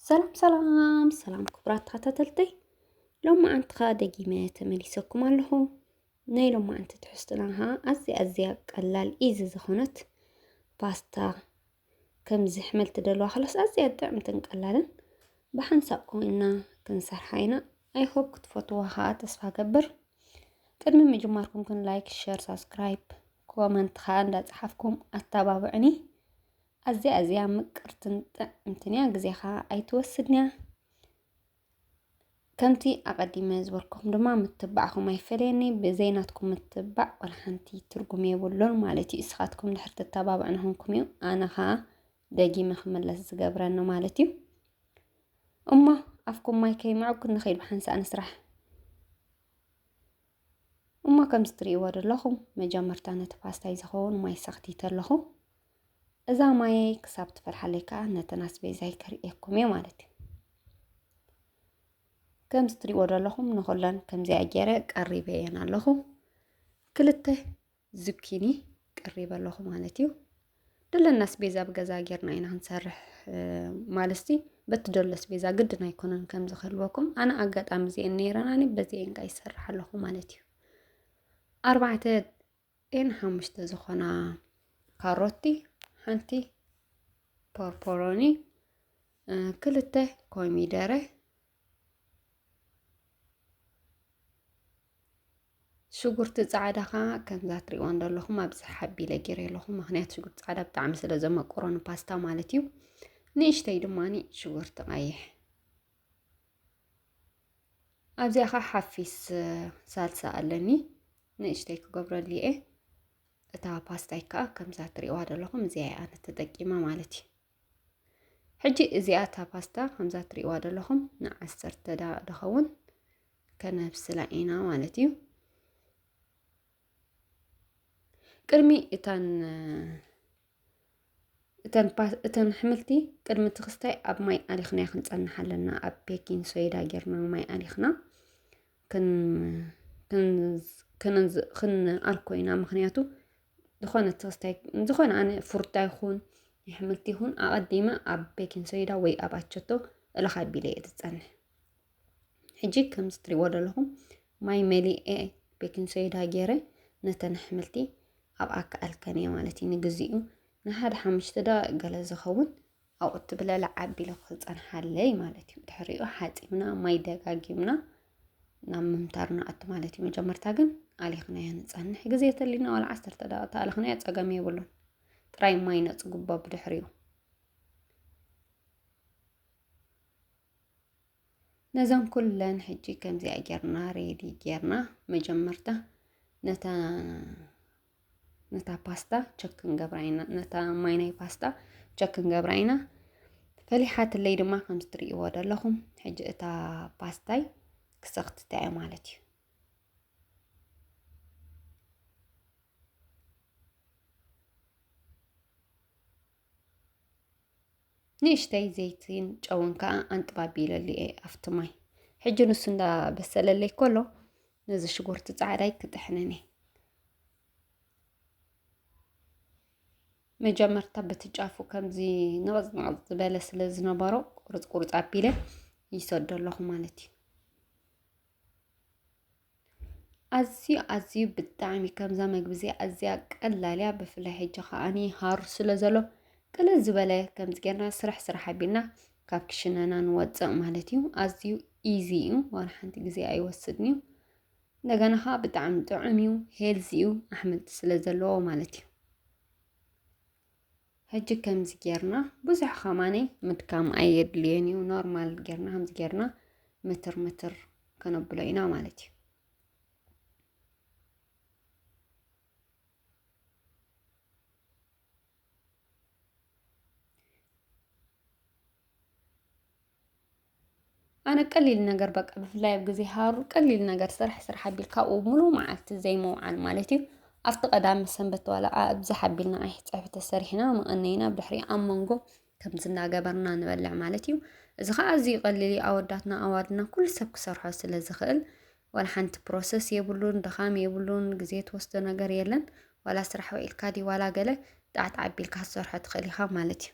ሰላም ሰላም ሰላም ክቡራት ተኸታተልተይ ሎሚ ኣንቲ ከዓ ደጊመ ተመሊሰኩም ኣለኹ ናይ ሎሚ ኣንቲ ትሕዝትና ከዓ ኣዝያ ኣዝያ ቀላል ኢዚ ዝኾነት ፓስታ ከምዚ ሕመል ትደልዋ ከላስ ኣዝያ ጥዕምትን ቀላልን ብሓንሳብ ኮይና ክንሰርሓ ኢና ኣይሆፕ ክትፈትዋ ከዓ ተስፋ ገብር ቅድሚ ምጅማርኩም ግን ላይክ ሸር ሳብስክራይብ ኮመንት ከዓ እንዳፀሓፍኩም ኣተባብዕኒ ኣዝያ ኣዝያ ምቅርትን ጥዕምትን እያ ግዜኻ ኣይትወስድንያ ከምቲ ኣቐዲመ ዝበልኩም ድማ ምትባዕኹም ኣይፈለየኒ ብዘይ ናትኩም ምትባዕ ዋላ ሓንቲ ትርጉም የብሉን ማለት እዩ። እስኻትኩም ድሕር ትተባብዑ ንኹንኩም እዩ ኣነ ኸኣ ደጊመ ክምለስ ዝገብረኒ ማለት እዩ። እሞ ኣፍኩም ማይ ከይምዕጉ ንኸይድ ብሓንሳእ ንስራሕ። እሞ ከምዚ ትርእይዎ ዘለኹም መጀመርታ ነቲ ፓስታይ ዝኸውን ማይ ሰኽቲተ ኣለኹ እዛ ማየይ ክሳብ ትፈልሓለይ ከዓ ነተን ኣስቤዛይ ከርእየኩም እየ ማለት እዩ ከምዚ ትርእይዎ ዘለኹም ንኹለን ከምዚኣ ገይረ ቀሪበ እየን ኣለኹ ክልተ ዙኪኒ ቀሪበ ኣለኹ ማለት እዩ ደለና ኣስቤዛ ኣብ ገዛ ጌርና ኢና ክንሰርሕ ማለትሲ በቲ ደሎ ኣስቤዛ ግድን ኣይኮነን ከም ዝኸልወኩም ኣነ ኣጋጣሚ እዚአን ነይረን ኣነ በዚአን ቃ ይሰርሕ ኣለኹ ማለት እዩ ኣርባዕተ ኤን ሓሙሽተ ዝኾና ካሮቲ ሓንቲ ፖርፖሮኒ ክልተ ኮሚደረ ሽጉርቲ ፃዕዳ ከዓ ከምዛ ትሪእዋ ዘለኹም ኣብዚ ሓቢለ ገይረ ኣለኹ ምክንያት ሽጉርቲ ፃዕዳ ብጣዕሚ ስለ ዘመቆሮ ንፓስታ ማለት እዩ ንእሽተይ ድማ ሽጉርቲ ቀይሕ ኣብዚኣ ከዓ ሓፊስ ሳልሳ ኣለኒ ንእሽተይ ክገብረሉ እየ እታ ፓስታይ ከዓ ከምዛ ትሪእዋ ዘለኹም እዚኣ እያ ተጠቂማ ማለት እዩ ሕጂ እዚኣ እታ ፓስታ ከምዛ ትሪእዋ ዘለኹም ንዓሰርተ ደቂቕ ድኸውን ከነብስላ ኢና ማለት እዩ ቅድሚ እታን እተን ኣሕምልቲ ቅድሚ እቲ ክስታይ ኣብ ማይ ኣሊኽና ክንፀንሓ ኣለና ኣብ ቤኪን ሶይዳ ጌርና ማይ ኣሊኽና ክንኣር ኮይና ምክንያቱ ዝኾነ ተወስታይ ዝኾነ ኣነ ፍሩታ ይኹን የሕምልቲ ይኹን ኣቐዲመ ኣብ ቤኪን ሶይዳ ወይ ኣብ ኣቸቶ እልኻ ኣቢለ እየ ዝፀንሕ ሕጂ ከም ዝትሪእዎ ዘለኹም ማይ መሊኤ ቤኪን ሶይዳ ገይረ ነተን ኣሕምልቲ ኣብ ኣካኣልከን እየ ማለት እዩ ንግዚኡ ንሓደ ሓሙሽተ ደቂቕ ገለ ዝኸውን ኣብኡ እትብለ ለዓቢ ኢለ ክፀንሓለይ ማለት እዩ ድሕሪኡ ሓፂብና ማይ ደጋጊምና ናብ ምምታር ንኣቱ ማለት እዩ መጀመርታ ግን ኣሊኽናዮ ንፀንሕ ግዜ ተሊና ዋላ ዓሰርተ ደቂቃ ተኣልኽናዮ ፀገም የብሉን ጥራይ ማይ ነፅጉቦ ብድሕሪኡ ነዘን ኩለን ሕጂ ከምዚኣ ጌርና ሬዲ ጌርና መጀመርታ ነታ ነታ ፓስታ ቸክ ክንገብራ ኢና ነታ ማይ ናይ ፓስታ ቸክ ክንገብራ ኢና ፈሊሓትለይ ድማ ከምዚ ትርእይዎ ዘለኹም ሕጂ እታ ፓስታይ ክሰኽትታ እየ ማለት እዩ ንእሽተይ ዘይትን ጨውን ከዓ ኣንጥባቢለሉ እየ ኣብቲ ማይ ሕጂ ንሱ እንዳበሰለለይ ከሎ ነዚ ሽጉርቲ ፃዕዳይ ክጥሕንን እየ መጀመርታ በቲ ጫፉ ከምዚ ንቕፅ ንቕፅ ዝበለ ስለ ዝነበሮ ቁርፅ ቁርፅ ኣቢለ ይሰዶ ኣለኹ ማለት እዩ ኣዝዩ ኣዝዩ ብጣዕሚ ከምዛ መግቢ እዚኣ ኣዝያ ቀላል እያ። ብፍላይ ሕጂ ከዓኒ ሃሩ ስለ ዘሎ ቅልል ዝበለ ከምዚ ጌርና ስራሕ ስራሕ ኣቢልና ካብ ክሽነና ንወፅእ ማለት እዩ። ኣዝዩ ኢዚ እዩ ዋላ ሓንቲ ግዜ ኣይወስድን እዩ። እንደገና ከዓ ብጣዕሚ ጥዑም እዩ ሄልዚ እዩ ኣሕምልቲ ስለ ዘለዎ ማለት እዩ። ሕጂ ከምዚ ጌርና ብዙሕ ከማኒ ምድካም ኣየድልዮን እዩ ኖርማል ጌርና ከምዚ ጌርና ምትር ምትር ከነብሎ ኢና ማለት እዩ ኣነ ቀሊል ነገር በቃ ብፍላይ ኣብ ግዜ ሃሩር ቀሊል ነገር ስራሕ ስራሕ ኣቢልካ ኣብኡ ምሉእ መዓልቲ ዘይምውዓል ማለት እዩ። ኣብቲ ቀዳመ ሰንበት ዋላ ኣብዝሕ ኣቢልና ኣይ ፀብሒ ተሰሪሕና መቐነይና ኣብ ድሕሪኡ ኣብ መንጎ ከምዚ እናገበርና ንበልዕ ማለት እዩ። እዚ ከዓ ኣዝዩ ቀሊል እዩ ኣወዳትና ኣዋልድና ኩሉ ሰብ ክሰርሖ ስለ ዝኽእል ዋላ ሓንቲ ፕሮሰስ የብሉን ድኻም የብሉን ግዜ ትወስዶ ነገር የለን። ዋላ ስራሕ ውዒልካ ድዩ ዋላ ገለ ጣዕጣዕ ኣቢልካ ክትሰርሖ ትኽእል ኢኻ ማለት እዩ።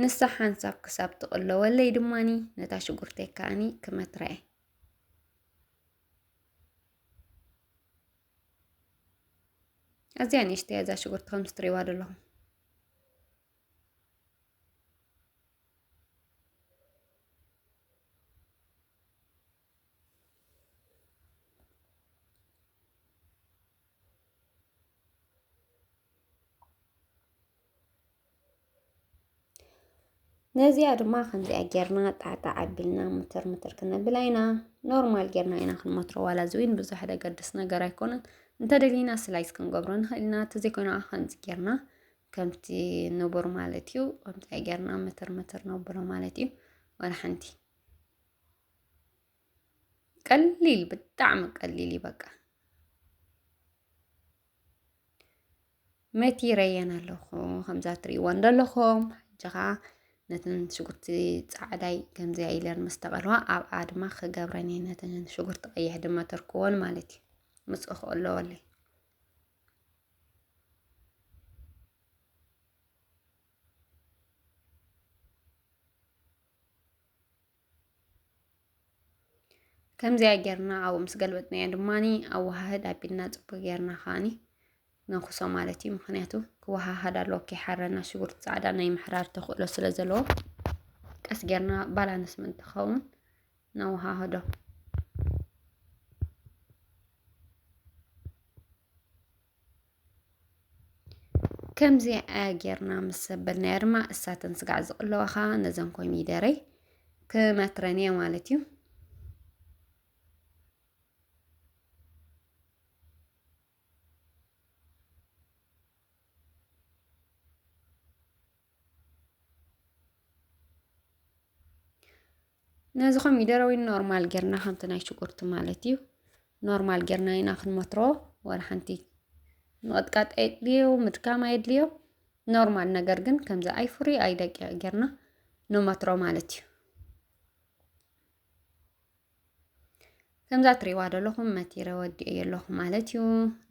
ንሳ ሓንሳብ ክሳብ ትቕለወለይ ድማኒ ነታ ሽጉርተይ ከኣኒ ክመትራየ ኣዝያ ንእሽተይ እዛ ሽጉርቲ ከምዚ ትሪእዋ ዘለኹም ነዚኣ ድማ ከምዚኣ ጌርና ጣዕጣ ዓቢልና ምትር ምትር ክነብላ ኢና ኖርማል ጌርና ኢና ክንመትሮ ዋላ እዚ እውን ብዙሕ ደገድስ ነገር ኣይኮነን እንተደሊና ስላይስ ክንገብሮ ንኽእል ኢና ተዘይኮይና ከምዚ ጌርና ከምቲ ንቡር ማለት እዩ ከምዚኣ ጌርና ምትር ምትር ነብሎ ማለት እዩ ወላ ሓንቲ ቀሊል ብጣዕሚ ቀሊል እዩ በቃ መቲ ረየን ኣለኹ ከምዛ ትርእይወን ዘለኹም ሕጂ ኸኣ ነተን ሽጉርቲ ጻዕዳይ ከምዚኣ ኢለን ምስ ተቐልዋ ኣብኣ ድማ ክገብረን እየ ነተን ሽጉርቲ ቀይሕ ድማ ተርክወን ማለት እዩ ምጽእ ክእለወለይ ከምዚኣ ጌርና ኣብኡ ምስ ገልበጥናዮ ድማኒ ኣወሃህድ ኣቢልና ጽቡቅ ጌርና ከዓኒ ነኹሶ ማለት እዩ ምክንያቱ ክወሃሃድ ኣለዎ ከይሓረና ሽጉርቲ ጻዕዳ ናይ ምሕራር ተኽእሎ ስለ ዘለዎ ቀስ ጌርና ባላንስ ምን ትኸውን ነወሃህዶ ከምዚ ጌርና ምስ ሰበልናዮ ድማ እሳተን ስጋዕ ዝቕለዋኻ ነዘን ኮሚደረይ ክመትረን እየ ማለት እዩ ነዚ ኮሚደረ ወይ ኖርማል ጌርና ከምቲ ናይ ሽጉርቲ ማለት እዩ ኖርማል ጌርና ኢና ክንመትሮ ወላ ሓንቲ ምቕጥቃጥ ኣየድልዮ ምድካም ኣየድልዮ ኖርማል ነገር ግን ከምዚ ኣይፍሪ ኣይደቂቕ ጌርና ንመትሮ ማለት እዩ ከምዛ ትሪእዋ ዘለኹም መቲረ ወዲኤ ኣለኹ ማለት እዩ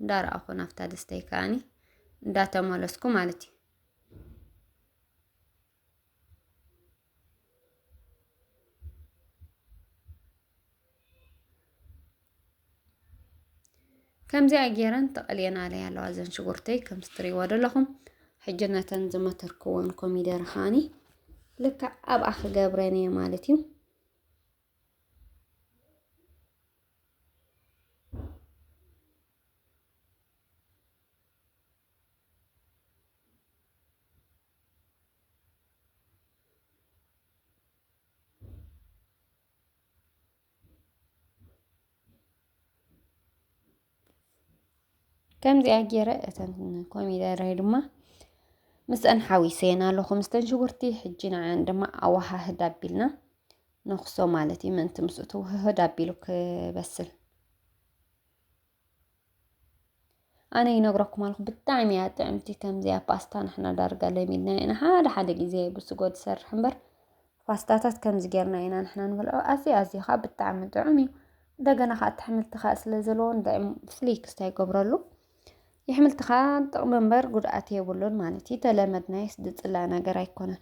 እንዳረኣኹ ናብታ ድስተይ ከዓኒ እንዳተመለስኩ ማለት እዩ ከምዚኣ ገይረን ተቐልየናለይ ኣለዋ እዘን ሽጉርተይ ከምዚ ትሪእዎ ዘለኹም ሕጂ ነተን ዝመተርክወን ኮሚደር ኻኒ ልክዕ ኣብኣ ክገብረን እየ ማለት እዩ ከምዚኣ ገይረ እተን ኮሚደረ ድማ ምስአን ሓዊሰን ኣለኹ ምስተን ሽጉርቲ ሕጂ ንዓን ድማ ኣወሃህድ ኣቢልና ነኽሶ ማለት እዩ ምእንቲ ምስኡ ትውህህድ ኣቢሉ ክበስል ኣነ ይነግረኩም ኣለኹ ብጣዕሚ እያ ጥዕምቲ ከምዚኣ ፓስታ ንሕና ዳርጋ ለሚድና ኢና ሓደ ሓደ ግዜ ብስጎ ዝሰርሕ እምበር ፓስታታት ከምዚ ጌርና ኢና ንሕና ንበልዖ ኣዝዩ ኣዝዩ ከዓ ብጣዕሚ ጥዑም እዩ እንደገና ከዓ እቲ ኣሕምልቲ ከዓ ስለ ዘለዎ ንጥዕም ፍሉይ ክስታ ይገብረሉ የሕምልቲ ከዓ ጥቕሚ እምበር ጉድኣት የብሉን ማለት እዩ ተለመድናዮስ ዝፅላእ ነገር ኣይኮነን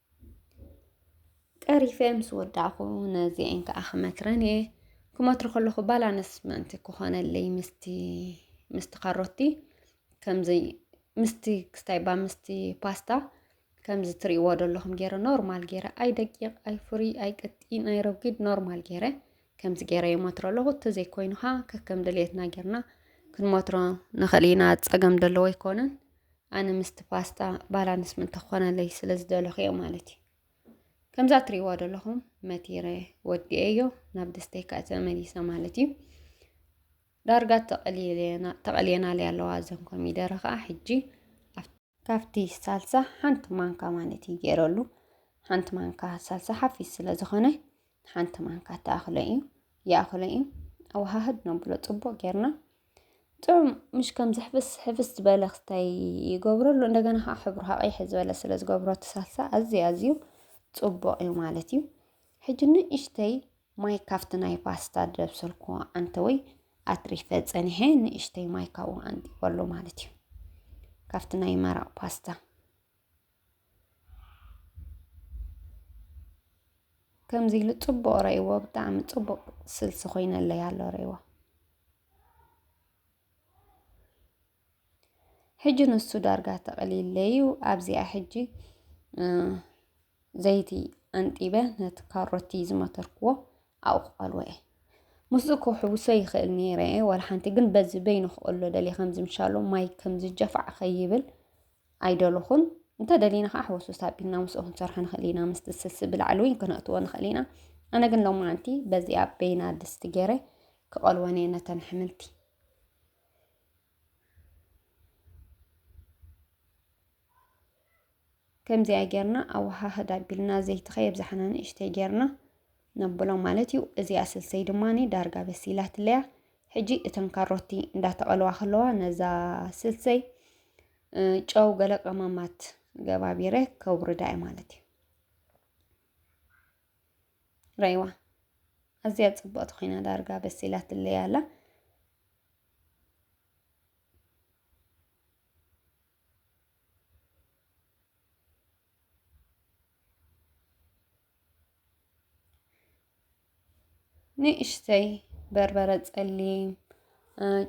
ቀሪፈ ምስ ወዳእኹ ነዚኤን ከዓ ክመትረን እየ ክመትሮ ከለኹ ባላንስ ምእንቲ ክኾነለይ ምስቲ ምስቲ ካሮቲ ከምዚ ምስቲ ክስታይባ ምስቲ ፓስታ ከምዚ ትርእይዎ ዘለኹም ገይረ ኖርማል ገይረ ኣይደቂቕ ኣይፍሩይ ኣይቅጢን ኣይረጒድ ኖርማል ገይረ ከምዚ ገይረ ይመትሮ ኣለኹ እንተዘይኮይኑ ኸዓ ከከም ድልየትና ጌርና ክንመትሮ ንኽእል ኢና ፀገም ደለዎ ኣይኮነን ኣነ ምስቲ ፓስታ ባላንስ ምእንቲ ክኾነለይ ስለ ዝደለኹ እየ ማለት እዩ ከምዛ እትሪእዋ ደለኹም መቲረ ወዲኤዮ ናብ ድስተይ ከዓ ተመሊሰ ማለት እዩ ዳርጋ ተቐልየናለይ ኣለዋ እዘን ኮሚደረ ከዓ ሕጂ ካብቲ ሳልሳ ሓንቲ ማንካ ማለት እዩ ገይረሉ ሓንቲ ማንካ ሳልሳ ሓፊስ ስለ ዝኾነ ሓንቲ ማንካ ተኣኽሎ እዩ ይኣኽሎ እዩ ኣወሃህድ ነብሎ ጽቡቕ ጌርና ጥዑም ምሽ ከም ዝሕፍስ ሕፍስ ዝበለ ክስታይ ይገብረሉ እንደገና ከዓ ሕብሩ ሃቐይሕ ዝበለ ስለ ዝገብሮ እቲ ሳልሳ ኣዝዩ ኣዝዩ ጽቡቕ እዩ ማለት እዩ ሕጂ ንእሽተይ ማይ ካብቲ ናይ ፓስታ ዘብሰልኩዎ ኣንተወይ ኣትሪፈ ጸኒሐ ንእሽተይ ማይ ካብኡ ኣንጢበሉ ማለት እዩ ካብቲ ናይ መረቕ ፓስታ ከምዚ ኢሉ ጽቡቕ ረእይዎ ብጣዕሚ ጽቡቕ ስልሲ ኮይነለይ ኣሎ ረእይዎ ሕጂ ንሱ ዳርጋ ተቐሊለዩ ኣብዚኣ ሕጂ ዘይቲ ኣንጢበ ነቲ ካሮቲ ዝመተርክዎ ኣብኡ ክቐልዎ እየ ምስኡ ክውሕውሶ ይኽእል ነይረ እየ ዋላ ሓንቲ ግን በዚ በይኑ ክቐሎ ደልየ ከምዚ ምሻሎ ማይ ከምዚ ጀፋዕ ከይብል ኣይደለኹን እንተደሊና ከዓ ሕወስውስ ኣቢልና ምስኡ ክንሰርሖ ንኽእል ኢና ምስቲ ስልሲ ብላዕሊ እውን ክነእትዎ ንኽእል ኢና ኣነ ግን ሎማዓንቲ በዚኣ በይና ድስቲ ገይረ ክቐልወን እየ ነተን ኣሕምልቲ ከምዚኣ ጌርና ኣወሃህድ ኣቢልና ዘይቲ ከየብዛሕና ንእሽተይ ጌርና ነብሎ ማለት እዩ። እዚኣ ስልሰይ ድማ ዳርጋ በሲላትለያ ሕጂ እተን ካሮቲ እንዳተቐልዋ ከለዋ ነዛ ስልሰይ ጨው ገለ ቀመማት ገባቢረ ከውርዳ እዩ ማለት እዩ። ረይዋ ኣዝያ ጽብቕቲ ኮይና ዳርጋ በሲላትለያ ኣላ። ንእሽተይ በርበረ ጸሊም፣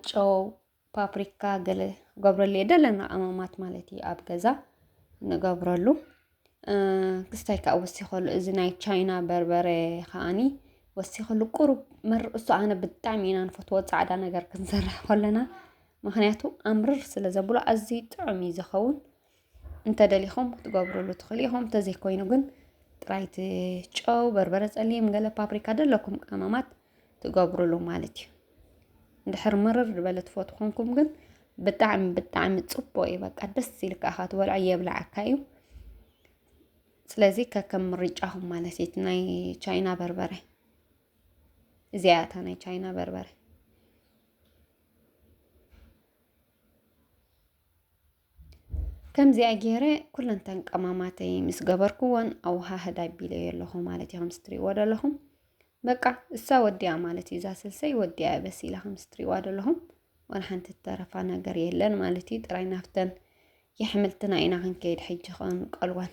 ጨው፣ ፓፕሪካ ገለ ገብረሉ እየ ደለና ቀመማት ማለት እዩ ኣብ ገዛ ንገብረሉ። ክስታይ ከዓ ወሲኸሉ እዚ ናይ ቻይና በርበረ ከዓኒ ወሲኸሉ ቁሩብ መርርኡሱ ኣነ ብጣዕሚ ኢና ንፈትዎ ጻዕዳ ነገር ክንሰርሕ ከለና ምክንያቱ ኣምርር ስለ ዘብሎ ኣዝዩ ጥዑም እዩ ዝኸውን። እንተደሊኹም ክትገብርሉ ትኽእሉ ኢኹም እንተዘይኮይኑ ግን ጥራይ እቲ ጨው በርበረ ፀሊም ገለ ፓፕሪካ ዘለኩም ቀመማት ትገብርሉ ማለት እዩ እንድሕር ምርር ዝበለ ትፈት ኮንኩም ግን ብጣዕሚ ብጣዕሚ ፅቡቅ እዩ በቃ ደስ ኢልካ ኢኻ ትበልዖ የብላዓካ እዩ ስለዚ ከከም ምርጫኹም ማለት እዩ ናይ ቻይና በርበረ እዚኣ እታ ናይ ቻይና በርበረ ከምዚኣ ገይረ ኩለንተን ቀማማተይ ምስ ገበርኩዎን ኣወሃህድ ኣቢለዮ ኣለኹ ማለት እዩ ከምስ ትሪእዎ ዘለኹም በቃ እሳ ወዲያ ማለት እዩ እዛ ስልሰይ ወዲያ በሲላ ከምስ ትሪእዋ ዘለኹም ዋላ ሓንቲ ተረፋ ነገር የለን ማለት እዩ ጥራይ ናፍተን የሕምልትና ኢና ክንከይድ ሕጂ ከንቀልወን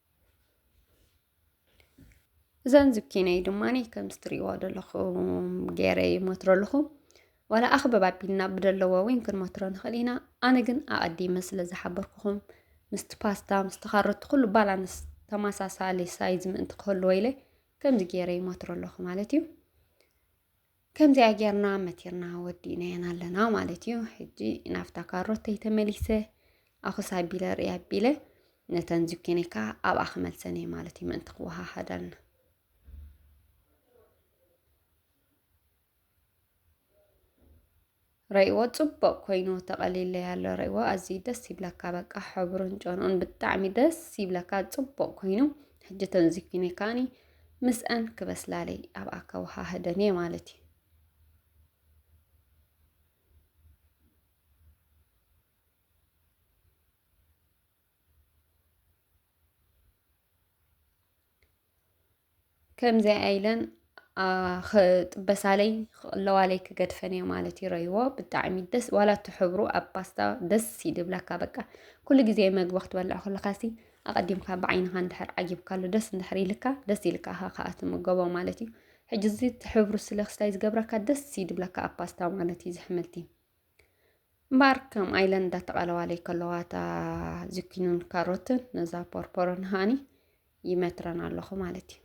እዘን ዝኪነይ ድማ ከምዚ ትሪእዋ ዘለኹም ገይረ ይሞትሮ ኣለኹ ዋላ ኣኽበብ ኣቢልና ብደለዎ እውን ክንሞትሮ ንኽእል ኢና ኣነ ግን ኣቐዲመ ስለ ዝሓበርኩኹም ምስቲ ፓስታ ምስቲ ካሮት ኩሉ ባላንስ ተመሳሳሊ ሳይዝ ምእንቲ ክህልዎ ኢለ ከምዚ ገይረ ይሞትሮ ኣለኹ ማለት እዩ ከምዚኣ ጌርና መቲርና ወዲእናየን ኣለና ማለት እዩ ሕጂ ናብታ ካሮተይ ተመሊሰ ኣኹስ ኣቢለ ርኢ ኣቢለ ነተን ዝኪኒ ከዓ ኣብኣ ክመልሰን እየ ማለት እዩ ምእንቲ ክወሃሃዳልና ረእዎ ጽቡቅ ኮይኑ ተቀሊለይ ኣሎ ረእዎ ኣዝዩ ደስ ይብለካ በቃ ሕብሩን ጨንኡን ብጣዕሚ ደስ ይብለካ ጽቡቅ ኮይኑ ሕጂ ተንዚኪኒ ካኒ ምስኣን ክበስላለይ ኣብ ኣከዋሃህደን እየ ማለት እዩ ከምዚኣ ኢለን ክጥበሳለይ ክቕለዋለይ ክገድፈን እየ ማለት ይረይዎ ብጣዕሚ ደስ ዋላ እቲ ሕብሩ ኣብ ፓስታ ደስ ይድብለካ በቃ ኩሉ ግዜ መግቢ ክትበልዕ ከለካሲ ኣቐዲምካ ብዓይንኻ እንድሕር ዓጊብካሉ ደስ እንድሕር ኢልካ ደስ ኢልካ ኢኻ ከዓ ትምገቦ ማለት እዩ ሕጂ እዚ እቲ ሕብሩ ስለ ክስታይ ዝገብረካ ደስ ይድብለካ ኣብ ፓስታ ማለት እዩ ዝሕምልቲ እምበኣር ከም ኣይለን እንዳተቓለዋለይ ከለዋ እታ ዝኪኑን ካሮትን ነዛ ፖርፖሮን ሃኒ ይመትረን ኣለኹ ማለት እዩ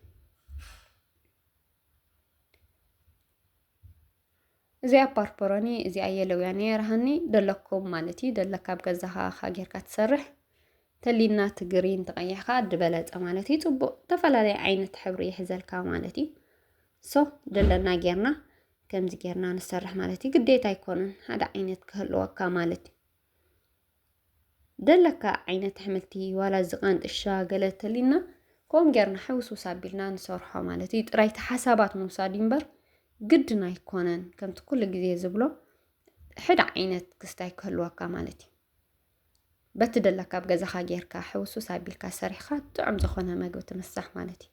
እዚኣ ፓርፖሮኒ እዚኣ የለውያ ነየርሃኒ ደለኩም ማለት እዩ ደለካ ኣብ ገዛኻ ካ ጌርካ ትሰርሕ ተሊና ትግሪን ተቐይሕካ ድበለፀ ማለት እዩ ፅቡቅ ዝተፈላለየ ዓይነት ሕብሪ ይሕዘልካ ማለት እዩ ሶ ደለና ጌርና ከምዚ ጌርና ንሰርሕ ማለት እዩ ግዴታ ኣይኮነን ሓደ ዓይነት ክህልወካ ማለት እዩ ደለካ ዓይነት ኣሕምልቲ ዋላ እዚ ቃንጥሻ ገለ ተሊና ከምኡ ጌርና ሕውስውስ ኣቢልና ንሰርሖ ማለት እዩ ጥራይቲ ሓሳባት ምውሳድ እዩ እምበር ግድን ኣይኮነን ከምቲ ኩሉ ግዜ ዝብሎ ሕደ ዓይነት ክስታይ ክህልወካ ማለት እዩ በቲ ደለካ ኣብ ገዛኻ ጌርካ ሕውስውስ ኣቢልካ ሰሪሕካ ጥዑም ዝኾነ መግቢ ትምሳሕ ማለት እዩ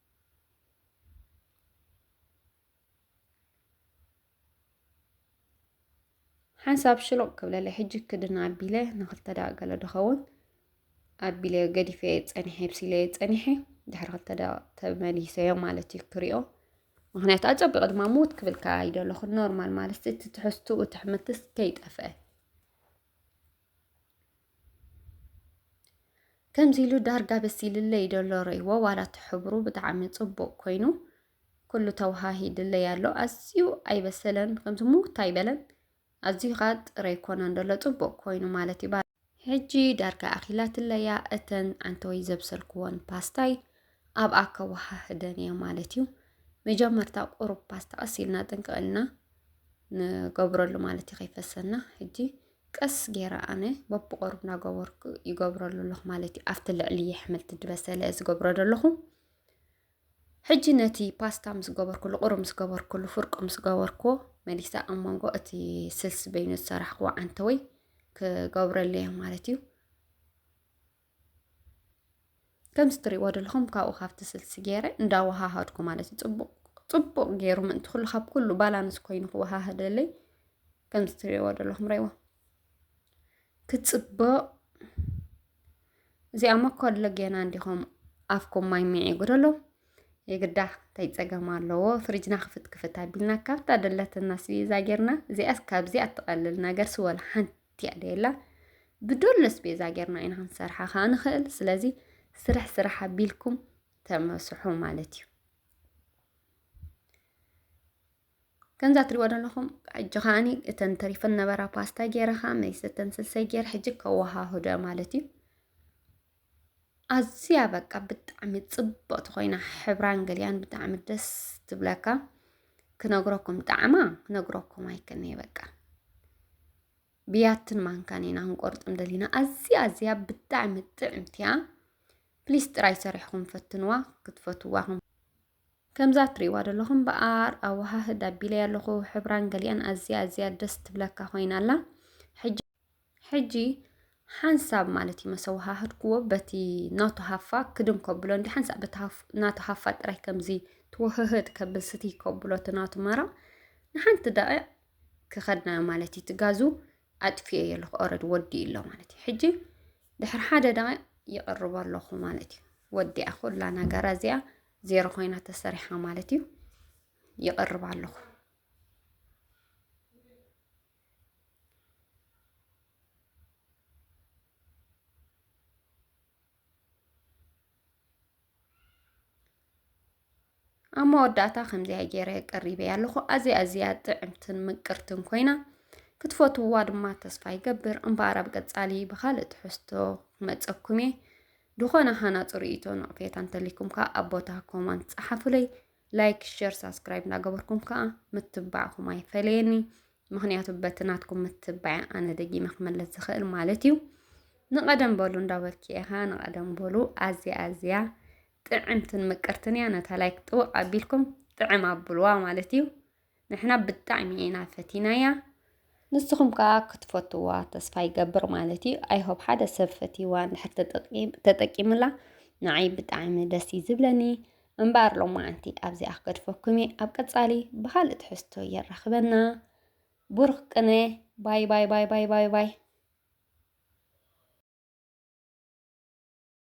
ሓንሳብ ሽሎቕ ክብለለይ ሕጂ ክድና ኣቢለ ንክልተ ደኣ ገለ ድኸውን ኣቢለ ገዲፈ ፀኒሐ ብሲለየ ፀኒሐ ድሕሪ ክልተ ደኣ ተመሊሰዮ ማለት እዩ ክሪኦ ምክንያቱ ኣፀቢቑ ድማ ምውት ክብልካ ኣይደለኹን ኖርማል ማለት እቲ ትሕዝትኡ ትሕምትስ ከይጠፍአ ከምዚ ኢሉ ዳርጋ በሲልለይ ደሎ ረይዎ ዋላ እቲ ሕብሩ ብጣዕሚ ፅቡቅ ኮይኑ ኩሉ ተወሃሂድለይ ኣሎ ኣዝዩ ኣይበሰለን ከምዚ ሙውት ኣይበለን ኣዝዩ ከዓ ጥረ ኣይኮነን ደሎ ፅቡቅ ኮይኑ ማለት እዩ ሕጂ ዳርጋ ኣኺላትለያ እተን ዓንተወይ ዘብሰልክዎን ፓስታይ ኣብኣ ከወሃህደን እየ ማለት እዩ መጀመርታ ቁሩብ ፓስታ ቀስ ኢልና ጥንቅቕልና ንገብረሉ ማለት እዩ ከይፈሰና ሕጂ ቀስ ጌረ ኣነ በብቆርብ እናገበርኩ ይገብረሉ ኣለኹ ማለት እዩ ኣብቲ ልዕሊ የሕምልቲ ድበሰለ ዝገብሮ ዘለኹ ሕጂ ነቲ ፓስታ ምስ ገበርኩሉ ቁሩብ ምስ ገበርኩሉ ፍርቁ ምስ ገበርኩ መሊሳ ኣብ መንጎ እቲ ስልሲ በይኑ ዝሰራሕክዎ ዓንተወይ ክገብረለይ ማለት እዩ ከምዚ ትሪእዎ ዘለኹም ካብኡ ካብቲ ስልሲ ገይረ እንዳወሃሃድኩ ማለት እዩ ፅቡቕ ፅቡቕ ገይሩ ምእንቲ ኩሉ ካብ ኩሉ ባላንስ ኮይኑ ክወሃሃደለይ ከምዚ ትሪእዎ ዘለኹም ረይዋ ክፅብቕ እዚኣ መኮሎ ጌና እንዲኹም ኣፍኩም ማይ ሚዒጉ ደሎ የግዳ እንታይ ፀገም ኣለዎ ፍሪጅና ክፍት ክፍት ኣቢልና ካብታ ደለትና ስቢዛ ጌርና እዚኣስ ካብዚ ኣትቐልል ነገር ስወል ሓንቲ ትያደየላ ብዶሎስ ቤዛ ጌርና ኢና ክንሰርሓ ከዓ ንኽእል ስለዚ ስራሕ ስራሕ ኣቢልኩም ተመስሑ ማለት እዩ ከምዛ ትሪእዎ ዘለኹም ሕጂ ከዓኒ እተን ተሪፈን ነበራ ፓስታ ጌረ ከዓ መይሰተን ስልሰይ ጌር ሕጂ ከወሃህዶ ማለት እዩ ኣዝያ በቃ ብጣዕሚ ጽብቕቲ ኮይና ሕብራን ገሊኣን ብጣዕሚ ደስ ትብለካ ክነግረኩም ጣዕማ ክነግረኩም ኣይክእልን'የ በቃ ብያትን ማንካን ኢና ክንቆርጥ እንደሊና ኣዝያ ኣዝያ ብጣዕሚ ጥዕምቲ እያ ፕሊስ ጥራይ ሰሪሕኩም ፈትንዋ ክትፈትዋ ከምዛ ትሪእዋ ዘለኹም በኣር ኣወሃህድ ኣቢለያ ኣለኹ ሕብራን ገሊኣን ኣዝያ ኣዝያ ደስ ትብለካ ኮይና ኣላ ሕጂ ሕጂ ሓንሳብ ማለት እዩ መሰዋሃህድክዎ በቲ ናቱ ሃፋ ክድም ከብሎ እንዲ ሓንሳብ በቲ ናቱ ሃፋ ጥራይ ከምዚ ትወህህድ ከብል ስቲ ከብሎ እቲ ናቱ መራ ንሓንቲ ደቂ ክኸድናዮ ማለት እዩ ትጋዙ ኣጥፍዮ እየ ኣለኹ ኦረድ ወዲ ኣሎ ማለት እዩ ሕጂ ድሕሪ ሓደ ደቂ ይቕርብ ኣለኹ ማለት እዩ ወዲኣ ኩላ ነገራ እዚኣ ዜሮ ኮይና ተሰሪሓ ማለት እዩ ይቕርብ ኣለኹ ኣብ መወዳእታ ከምዚኣ ገይረ ቀሪበያ ኣለኹ ኣዝያ ኣዝያ ጥዕምትን ምቅርትን ኮይና ክትፈትውዋ ድማ ተስፋ ይገብር እምበኣር ኣብ ቀጻሊ ብካልእ ትሕዝቶ ክመጸኩም እየ ዝኾነ ሃናፂ ርእይቶ ነቕፌታ እንተሊኩም ከዓ ኣብ ቦታ ኮማንት ፀሓፉለይ ላይክ ሸር ሳብስክራይብ እናገበርኩም ከዓ ምትባዕኹም ኣይፈለየኒ ምክንያቱ በቲ ናትኩም ምትባዕ ኣነ ደጊመ ክመለስ ዝኽእል ማለት እዩ ንቐደም በሉ እንዳበልኪ ኢኻ ንቐደም በሉ ኣዝያ ኣዝያ ጥዕምትን ምቅርትን እያ ነታ ላይክ ጥውቕ ኣቢልኩም ጥዕም ኣብልዋ ማለት እዩ ንሕና ብጣዕሚ ኢና ፈቲናያ ንስኹም ከዓ ክትፈትዋ ተስፋ ይገብር ማለት እዩ ኣይሆብ ሓደ ሰብ ፈትዋ እንድሕር ተጠቂምላ ንዓይ ብጣዕሚ ደስ እዩ ዝብለኒ እምበኣር ሎማዓንቲ ኣብዚኣ ክገድፈኩም እየ ኣብ ቀፃሊ ብካልእ ትሕዝቶ የራኽበና ቡሩኽ ቅነ ባይ ባይ ባይ ባይ ባይ ባይ